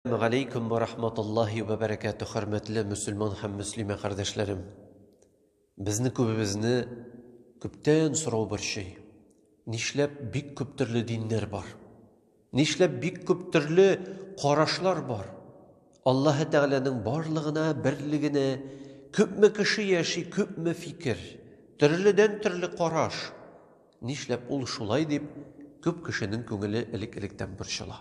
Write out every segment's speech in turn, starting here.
Галейкум ва рахматуллахи ва баракату, хөрмәтле мөселман һәм мөслимә кардәшләрем. Безне күбебезне күптән сорау борчый. Нишләп бик күп төрле диннәр бар? Нишләп бик күп төрле карашлар бар? Аллаһы Тәгаләнең барлыгына, берлегенә күпме кеше яши, күпме фикер, төрледән төрле караш. Нишләп ул шулай дип күп кешенең күңеле элек-электән борчыла.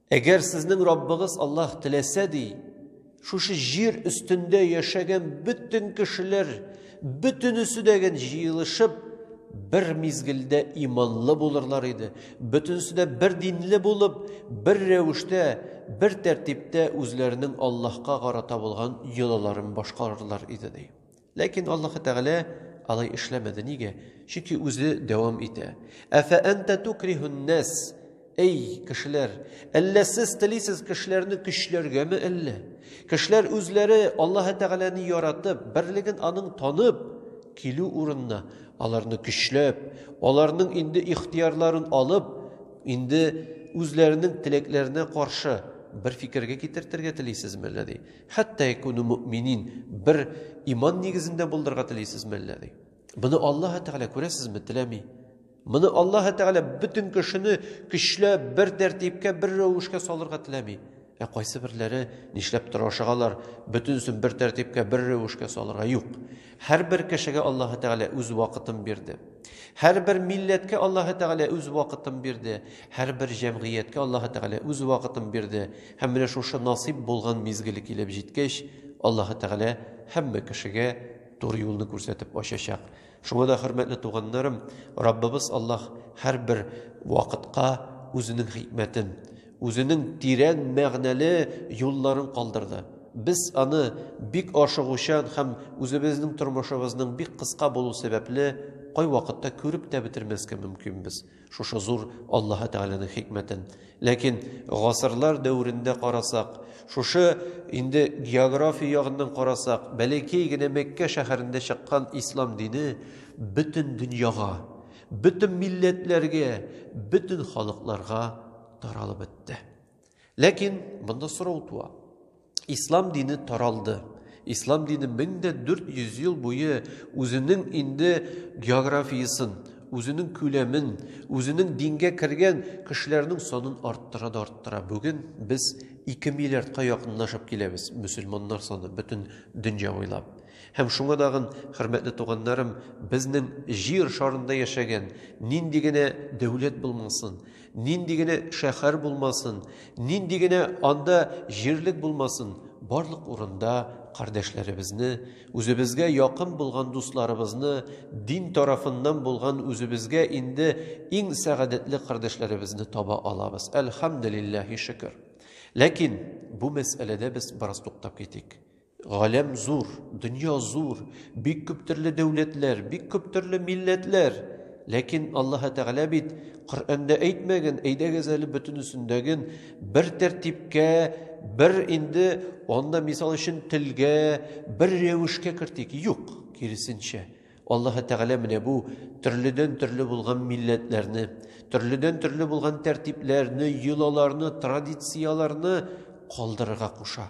Әгәр сезнең Раббыгыз Аллаһ теләсә ди, шушы җир өстендә яшәгән бөтен кешеләр бөтенесе дә җыелышып бер мизгелдә иманлы булырлар иде. Бөтенесе дә бер динле булып, бер рәвештә, бер тәртиптә үзләренең Аллаһка карата булган йолаларын башкарырлар иде ди. Ләкин Аллаһы Тәгалә алай эшләмәде. Нигә? Чөнки үзе дәвам итә. Афа анта тукрихун нас? Эй, кешеләр, әллә сез телисез кешеләрне көчләргәме әллә? Кешеләр үзләре Аллаһы Тәгаләне яратып, берлеген аның танып килү урынына, аларны көчләп, аларның инде ихтиярларын алып, инде үзләренең теләкләренә каршы бер фикергә китертергә телисезме әллә ди? Хәтта якуну мөэминин, бер иман нигезендә булдырырга телисезме әллә? ди. Моны Аллаһ Тәгалә күрәсезме, теләми. Моны Аллаһ Тәгалә бөтен кешене көчләп, бер тәртипкә, бер рәвешкә салырга теләми. Ә кайсы берләре нишләп тора ашагалар, бөтенесен бер тәртипкә, бер рәвешкә салырга юк. Һәрбер кешегә Аллаһ Тәгалә үз вакытын бирде. Һәрбер милләткә Аллаһы Тәгалә үз вакытын бирде, һәрбер җәмгыятькә Аллаһы Тәгалә үз вакытын бирде. Һәм менә шушы насыйп булган мизгеле килеп җиткәч, Аллаһы Тәгалә һәммә кешегә туры юлны күрсәтеп ачачак. Шуңа да, хөрмәтле туганнарым, Раббыбыз Аллаһ һәрбер вакытка үзенең хикмәтен, Үзенең тирән мәгънәле юлларын калдырды. Без аны бик ашыгучан һәм үзебезнең тормышыбызның бик кыска булу сәбәпле, кайвакытта күреп тә бетермәскә мөмкинбез шушы зур Аллаһы Тәгаләнең хикмәтен. Ләкин гасырлар дәверендә карасак, шушы инде география ягыннан карасак, бәләкәй генә Мәккә шәһәрендә чыккан ислам дине бөтен дөньяга, Бөтен милләтләргә, бөтен халыкларга таралып бетте. Ләкин монда сорау туа. Ислам дине таралды. Ислам дине 1400 ел буе үзенең инде географиясен, үзенең күләмен, үзенең дингә кергән кешеләрнең санын арттыра да арттыра. Бүген без 2 миллиардка якынлашып киләбез, мөселманнар саны бөтен дөнья буйлап. Һәм шуңа тагын, хөрмәтле туганнарым, безнең Җир шарында яшәгән, нинди генә дәүләт булмасын, нинди генә шәһәр булмасын, нинди генә анда җирлек булмасын, барлык урында кардәшләребезне, үзебезгә якын булган дусларыбызны, дин тарафыннан булган үзебезгә инде иң сәгадәтле кардәшләребезне таба алабыз. Әлхәмдүлилләһи шөкер. Ләкин бу мәсьәләдә без бераз туктап китик. Галәм зур, дөнья зур, бик күп төрле дәүләтләр, бик күп төрле милләтләр. Ләкин Аллаһы Тәгалә бит Коръәндә әйтмәгән, әйдәгез әле бөтенесендәген бер тәртипкә, бер инде анда мисал өчен телгә, бер рәвешкә кертик. Юк, киресенчә. Аллаһы Тәгалә менә бу төрледән төрле булган милләтләрне, төрледән төрле булган тәртипләрне, йолаларны, традицияләрне калдырырга куша.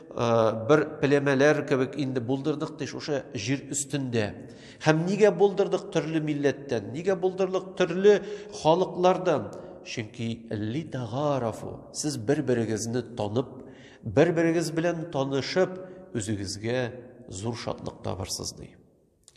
бер племәләр кебек инде булдырдык ди шушы җир өстендә. Һәм нигә булдырдык төрле милләттән, нигә булдырдык төрле халыклардан? Чөнки ли тагарафу, сез бер-берегезне танып, бер-берегез белән танышып, үзегезгә зур шатлык табарсыз ди.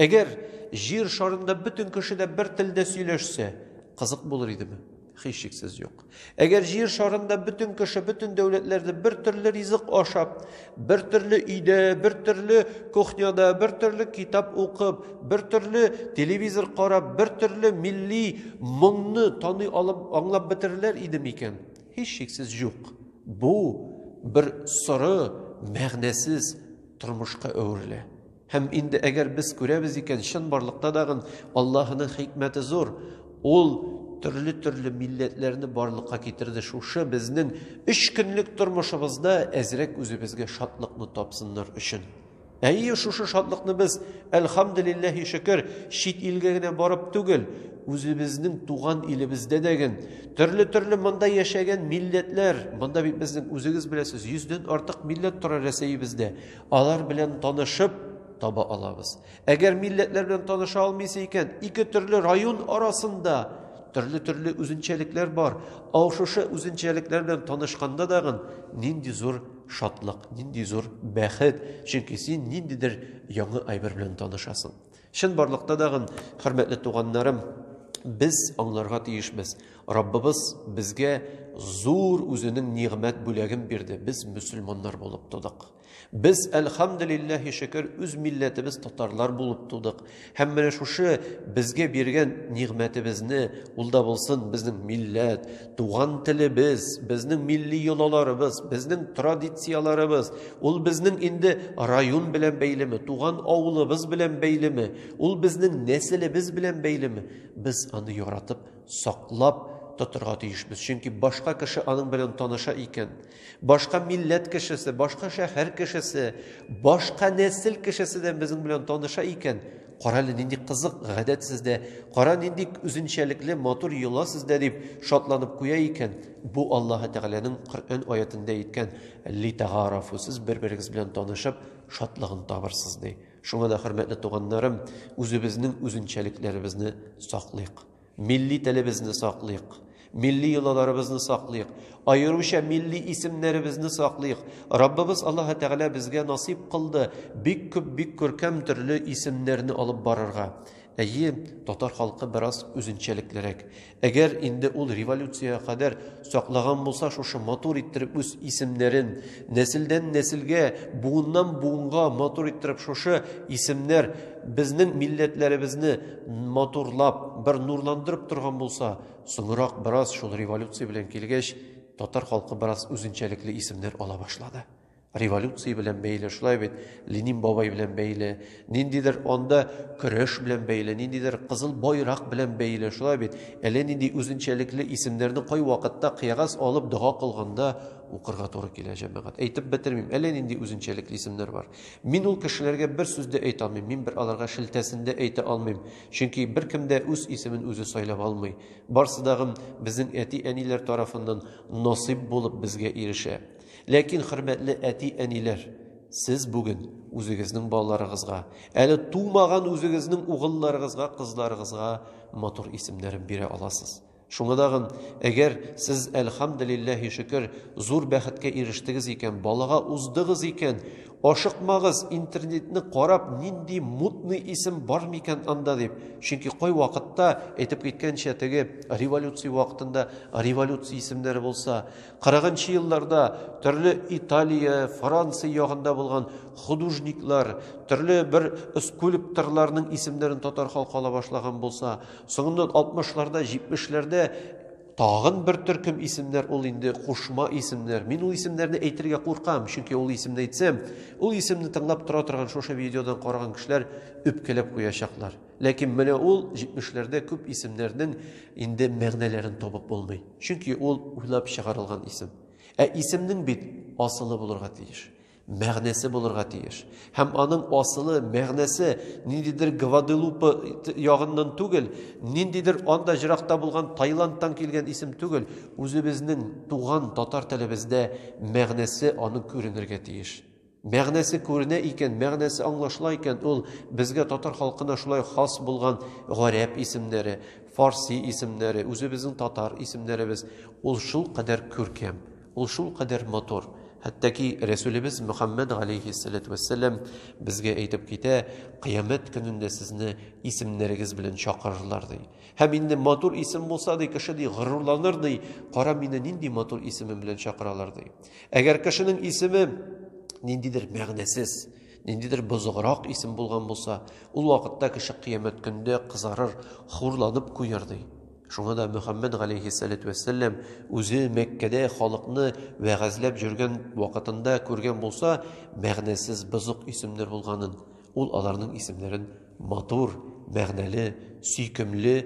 Әгәр җир шарында бөтен кеше дә бер телдә сөйләшсә, кызык булыр идеме? Һичшиксез юк. Әгәр җир шарында бөтен кеше, бөтен дәүләтләрдә бер төрле ризык ашап, бер төрле өйдә, бер төрле кухняда, бер төрле китап укып, бер төрле телевизор карап, бер төрле милли моңны таный алып, аңлап бетерерләр иде микән? Һичшиксез юк. Бу бер соры, мәгънәсез тормышка әверелә. Һәм инде әгәр без күрәбез икән, чынбарлыкта дагын Аллаһының хикмәте зур. Ул төрле-төрле милләтләрне барлыкка китерде. Шушы безнең өч көнлек тормышыбызда әзрәк үзебезгә шатлыкны тапсыннар өчен. Әйе, шушы шатлыкны без, әлхамдулиллаһи шөкер, чит илгә генә барып түгел, үзебезнең туган илебездә дә ген, төрле-төрле монда яшәгән милләтләр, монда бит безнең үзегез беләсез, йөздән артык милләт тора Рәсәебездә. Алар белән танышып таба алабыз. Әгәр милләтләр белән таныша алмыйсы икән, ике төрле район арасында төрле-төрле үзенчәлекләр бар. Ау шушы үзенчәлекләр белән танышканда дагын нинди зур шатлык, нинди зур бәхет, чөнки син ниндидер яңа әйбер белән танышасың. Чынбарлыкта да, хөрмәтле туганнарым, без аңларга тиешбез. Раббыбыз безгә зур үзенең нигъмәт бүләген бирде. Без мөселманнар булып тудык. Без, әлхәмдулиллаһи шөкер, үз милләтебез татарлар булып тудык. Һәм менә шушы безгә биргән нигъмәтебезне, ул да булсын безнең милләт, Туган телебез, безнең милли йолаларыбыз, безнең традицияларыбыз, ул безнең инде район белән бәйлеме, туган авылыбыз белән бәйлеме, ул безнең нәселебез белән бәйлеме, без аны яратып, саклап тотырга тиешбез. Чөнки башка кеше аның белән таныша икән, Башка милләт кешесе, башка шәһәр кешесе, башка нәсел кешесе дә безнең белән таныша икән. Кара әле нинди кызык гадәт сездә, кара нинди үзенчәлекле матур йола сездә дип шатланып куя икән. Бу Аллаһы Тәгаләнең Коръән аятендә әйткән литагарафу сез бер-берегез белән танышып шатлыгын табырсыз ди. Шуңа да хөрмәтле туганнарым, үзебезнең үзенчәлекләребезне саклыйк. Милли телебезне саклыйк, милли йолаларыбызны саклыйк, аеруча милли исемнәребезне саклыйк. Раббыбыз Аллаһы Тәгалә безгә насыйп кылды бик күп, бик күркәм төрле исемнәрне алып барырга. Әйе, татар халкы бераз үзенчәлеклерәк. Әгәр инде ул революциягә кадәр саклаган булса шушы матур иттереп үз исемнәрен, Нәселдән нәселгә, буыннан буынга матур иттереп шушы исемнәр безнең милләтләребезне матурлап, бер нурландырып торган булса, соңрак бераз шул революция белән килгәч, татар халкы бераз үзенчәлекле исемнәр ала башлады. Революция белән бәйле, шулай бит, Ленин бабай белән бәйле, Ниндидер анда көрәш белән бәйле, ниндидер кызыл байрак белән бәйле, шулай бит. Әллә нинди үзенчәлекле исемнәрне кай вакытта кыягаз алып дога кылганда укырга туры килә, җәмәгать. Әйтеп бетермим, әллә нинди үзенчәлекле исемнәр бар. Мин ул кешеләргә бер сүз дә әйтә алмыйм, мин бер аларга шелтәсен дә әйтә алмыйм, чөнки беркем дә үз исемен үзе сайлап алмый. Барсы да гын безнең әти-әниләр тарафыннан насыйп булып безгә ирешә. Ләкин, хөрмәтле әти-әниләр! Сез бүген үзегезнең балаларыгызга, әле тумаган үзегезнең угылларыгызга, кызларыгызга матур исемнәрен бирә аласыз. Шуңа тагын, әгәр сез, әлхәмдүлилләһи шөкер, зур бәхеткә ирештегез икән, балага уздыгыз икән, ашыкмагыз, интернетны карап, нинди мутный исем бар микән анда дип. Чөнки кай вакытта, әйтеп киткәнчә, теге революция вакытында революция исемнәре булса, Кырыгынчы елларда төрле Италия, Франция ягында булган художниклар, төрле бер скульпторларның исемнәрен татар халкы ала башлаган булса, соңыннан 60-ларда, 70-ләрдә тагын бер төркем исемнәр ул инде кушма исемнәр. Мин ул исемнәрне әйтергә куркам, чөнки ул исемне әйтсәм, ул исемне тыңлап тора торган шушы видеодан караган кешеләр үпкәләп куячаклар. Ләкин менә ул 70-ләрдә күп исемнәрнең инде мәгънәләрен табып булмый. Чөнки ул уйлап чыгарылган исем. Ә исемнең бит асылы булырга тиеш, мәгънәсе булырга тиеш. Һәм аның асылы, мәгънәсе ниндидер Гваделупа ягыннан түгел, ниндидер анда җыракта булган Таиландтан килгән исем түгел, үзебезнең туган татар телебездә мәгънәсе аның күренергә тиеш. Мәгънәсе күренә икән, мәгънәсе аңлашыла икән, ул безгә татар халкына шулай хас булган гарәп исемнәре, фарси исемнәре, үзебезнең татар исемнәребез, ул шул кадәр күркәм, ул шул кадәр матур. Хәтта ки Рәсүлебез Мөхәммәд галәйһиссәләтү вәссәлам безгә әйтеп китә, кыямәт көнендә сезне исемнәрегез белән чакырырлар ди. Һәм инде матур исем булса ди, кеше ди, горурланыр ди, кара мине нинди матур исемем белән чакыралар ди. Әгәр кешенең исеме ниндидер мәгънәсез, ниндидер бозыграк исем булган булса, ул вакытта кеше кыямәт көндә кызарыр, хурланып куяр ди. Шуңа да Мөхәммәд галәйһиссәләтү вәссәлам үзе Мәккәдә халыкны вәгазьләп җөргән вакытында күргән булса, мәгънәсез бозык исемнәр булганын, ул аларның исемнәрен матур, мәгънәле, сөйкемле,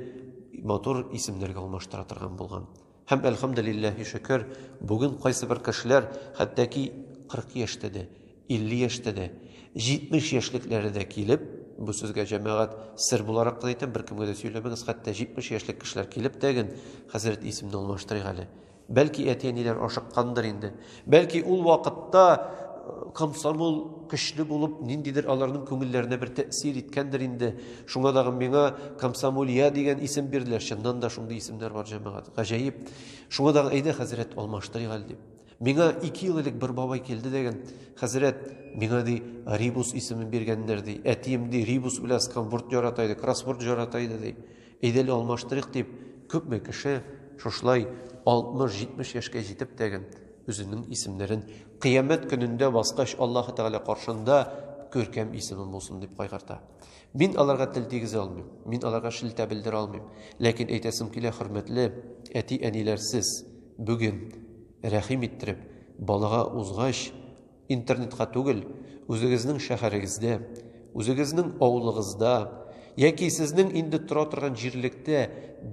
матур исемнәргә алмаштыра торган булган. Һәм, әлхәмделилләһи шөкер, бүген кайсыбер кешеләр хәтта-ки 40 яшьтә дә, 50 яшьтә дә, 70 яшьлекләре дә килеп, бу сезгә, җәмәгать, сер буларак кына әйтәм, беркемгә дә сөйләмәгез, хәтта 70 яшьлек кешеләр килеп тәген, Хәзрәт, исемне алмаштырыйк әле. Бәлки, әти-әниләр ашыккандыр инде. Бәлки ул вакытта э, комсомол көчле булып, ниндидер аларның күңелләренә бер тәэсир иткәндер инде. Шуңа дагы миңа комсомолья дигән исем бирделәр. Чыннан да шундый исемнәр бар җәмәгать. Гаҗәеп. Шуңа дагы әйдә хәзрәт алмаштырыйк әле дип. Миңа 2 ел элек бер бабай килде дигән, хәзрәт, миңа ди Рибус исемен биргәннәр ди. Әтием ди Рибус белән сканбурт ярата иде, кроссворд ярата иде ди. Идел алмаштырыйк дип, күпме кеше шушылай 60-70 яшькә җитеп тәген үзенең исемнәрен кыямәт көнендә баскач Аллаһы Тәгалә каршында күркәм исемем булсын дип кайгырта. Мин аларга тел тигезә алмыйм, мин аларга шелтә белдерә алмыйм. Ләкин әйтәсем килә, хөрмәтле әти-әниләрсез, бүген рәхим иттереп, балага узгач, Интернетка түгел, үзегезнең шәһәрегездә, үзегезнең авылыгызда яки сезнең инде тора торган җирлектә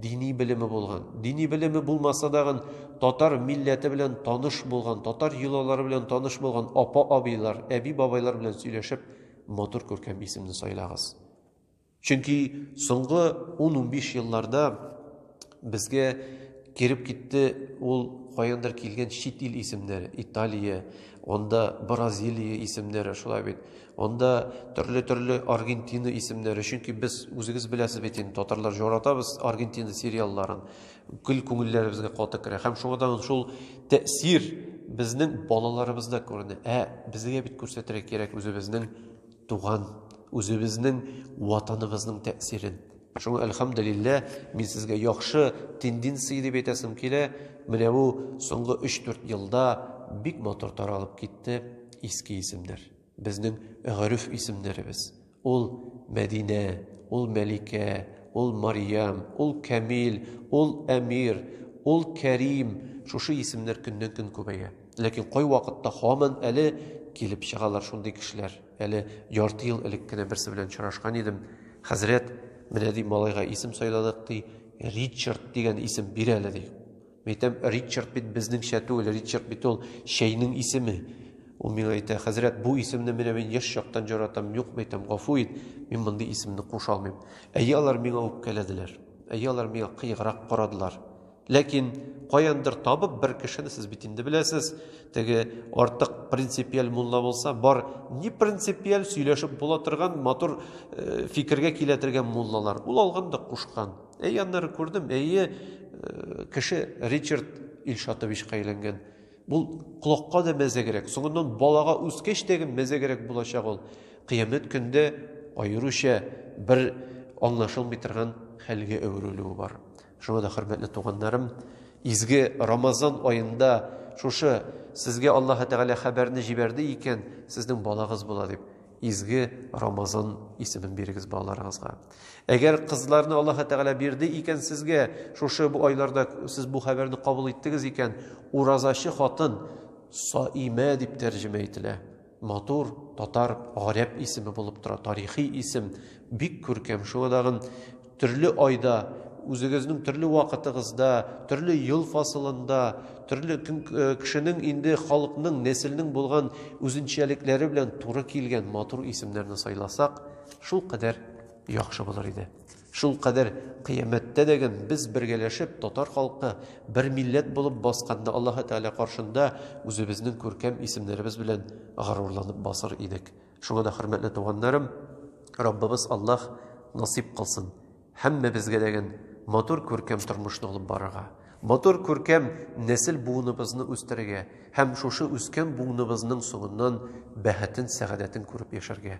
дини белеме булган, дини белеме булмаса дагын татар милләте белән таныш булган, татар йолалары белән таныш булган апа-абыйлар, әби-бабайлар белән сөйләшеп, матур күркәм исемне сайлагыз. Чөнки соңгы ун-унбиш елларда безгә кереп китте ул каяндыр килгән чит ил исемнәре, Италия, анда Бразилия исемнәре, шулай бит, анда төрле-төрле Аргентина исемнәре, чөнки без үзегез беләсез бит инде, татарлар җоратабыз Аргентина сериалларын, гел күңелләребезгә каты керә, һәм шуңа да шул тәэсир безнең балаларыбызда күренә, ә безгә бит күрсәтергә кирәк үзебезнең Туган, үзебезнең ватаныбызның тәэсирен. Шуңа әлхәмдүлилләһ, мин сезгә яхшы тенденция дип әйтәсем килә. Менә бу соңгы өч-дүрт елда бик матур таралып китте иске исемнәр. Безнең гореф исемнәребез. Ул Мәдинә, ул Мәликә, ул Мариям, ул Камил, ул Әмир, ул Кәрим, шушы исемнәр көннән-көн күбәя. Ләкин кайвакытта һаман әле килеп чыгалар шундый кешеләр. Әле ярты ел элек кенә берсе белән очрашкан идем. Хәзрәт, менә ди, малайга исем сайладык, ди, Ричард дигән исем бир әле, ди. Мәйтәм, Ричард бит безнеңчә түгел, Ричард бит ул чәйнең исеме. Ул миңа әйтә, хәзрәт, бу исемне менә мин яшь чактан җаратам, юк, мәйтәм, гафу ит, мин мондый исемне куша алмыйм. Әйе, алар миңа үпкәләделәр. Әйе, алар миңа кыеграк карадылар. Ләкин каяндыр табып бер кешене сез бит инде беләсез, теге артык принципиаль мулла булса, бар ни принципиаль сөйләшеп була торган матур э, фикергә килә торган муллалар. Ул алган да кушкан. Әй, аннары күрдем, әйе, э, кеше Ричард Илшатовичка әйләнгән. Бул колакка да мәзәгрәк, соңыннан балага үскәч тәге мәзәгрәк булачак ул. Кыямәт көндә аеруча бер аңлашылмый торган хәлгә әверелүе бар. Шуңа да, хөрмәтле туганнарым, изге Рамазан аенда шушы сезгә Аллаһы Тәгалә хәбәрне җибәрде икән, сезнең балагыз була дип, изге Рамазан исемен бирегез балаларыгызга. Әгәр кызларны Аллаһы Тәгалә бирде икән сезгә, шушы бу айларда сез бу хәбәрне кабул иттегез икән, уразачы хатын Саимә дип тәрҗемә ителә. Матур, татар, гарәп исеме булып тора, тарихи исем, бик күркәм. Шуңа тагын төрле айда, үзегезнең төрле вакытыгызда, төрле ел фасылында, төрле э, кешенең инде халыкның, нәселнең булган үзенчәлекләре белән туры килгән матур исемнәрне сайласак, шул кадәр яхшы булыр иде. Шул кадәр кыямәттә дә гэн без бергәләшеп татар халкы бер милләт булып басканда Аллаһы Тәгалә каршында үзебезнең күркәм исемнәребез белән горурланып басыр идек. Шуңа да хөрмәтле туганнарым, Раббыбыз Аллаһ насыйп кылсын һәммәбезгә дә гэн матур күркәм тормышны алып барырга, матур күркәм нәсел буыныбызны үстерергә һәм шушы үскән буыныбызның соңыннан бәхетен, сәгадәтен күреп яшәргә.